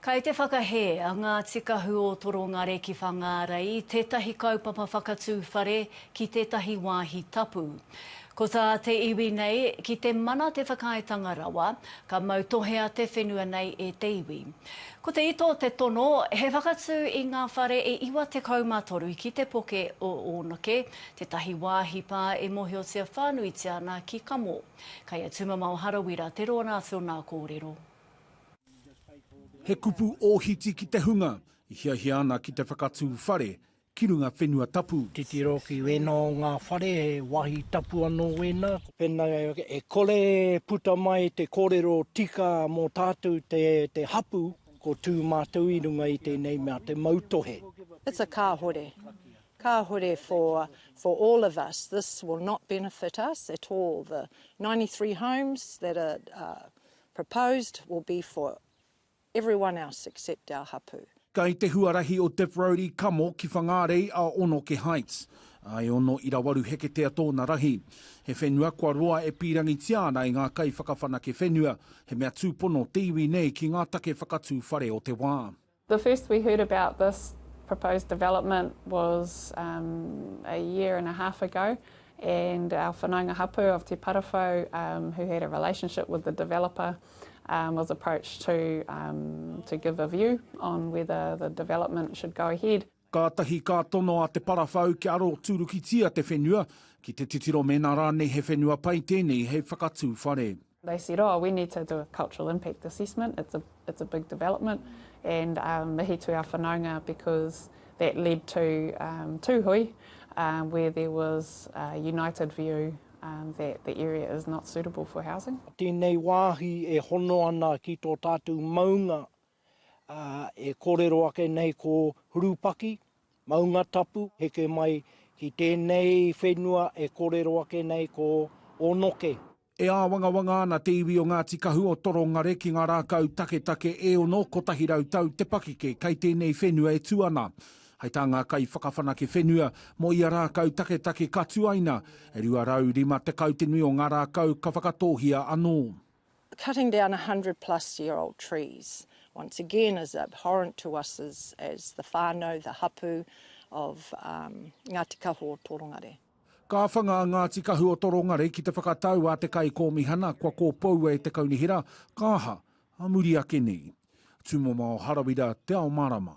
Kei te whakahē a Ngāti Kahu o Torongare ki Whangārei tētahi kaupapa whakatū whare ki tētahi wāhi tapu. Ko tā te iwi nei, ki te mana te whakaaetanga rawa, ka mautohea te whenua nei e te iwi. Ko te ito te tono, he whakatū i ngā whare e 93 ki te poke o Ōnake, tētahi wāhi pā e mōhiotia whānuitia ana ki Kamo. Kei a Tumamao Harawira te rōnā tōnā kōrero. He kupu ōhiti ki te hunga i hiahia ana ki te whakatū whare ki runga whenua tapu. Titiro ki wēnā o ngā whare, he wāhi tapu anō wēnā. Pēnei e kore e puta mai te kōrero tika mō tātou te hapū, ko tū mātou i runga i tēnei mea te mautohe. It's a kāhore. Kāhore for for all of us. This will not benefit us at all. The ninety three homes that are Proposed will be for everyone else except our hapū. Kai te huarahi o Diff Road i kamo ki Whangārei a Onoke Heights. A e ono ira waru heketea tōna rahi. He whenua kua roa e pīrangitia ana e ngā kaiwhakawhanake whenua, he mea tūpono te iwi nei ki ngā take whakatū whare o te wā. The first we heard about this proposed development was um a year and a half ago and our whanaunga hapu of Te Parawhau um who had a relationship with the developer um was approached to um to give a view on whether the development should go ahead. Kātahi ka tono a Te Parawhau kia aroturukitia te whenua ki te titiro mēnā rānei he whenua pai tēnei hei whakatū whare. They said, oh, we need to do a cultural impact assessment, it's a, it's a big development, and um, mihi to our whanaunga because that led to um, Tūhui, um, where there was a united view um, that the area is not suitable for housing. Tēnei wāhi e hono ana ki tō tātou maunga uh, e kōrero ake nei ko Hurupaki, maunga tapu, heke mai ki tēnei whenua e kōrero ake nei ko Onoke. E āwangawanga ana te iwi o Ngāti Kahu o Torongare ki ngā rākau taketake e ono, kotahi rau tau te pakeke kei tēnei whenua e tū ana. Hai tā ngā kaiwhakawhanake whenua, mō ia rākau taketake ka tuaina, e 250 te nui o ngā rākau ka whakatōhia anō. Cutting down a hundred plus year old trees once again is abhorrent to us as the whānau, the hapu of Ngāti Kahu o Torongare. Ka whanga a Ngāti Kahu o Torongare ki te whakatau a te Kaikōmihana kua kōpoua e te Kaunihera, ka aha, a muri ake nei. Tūmomao Harawira, Te Ao Marama.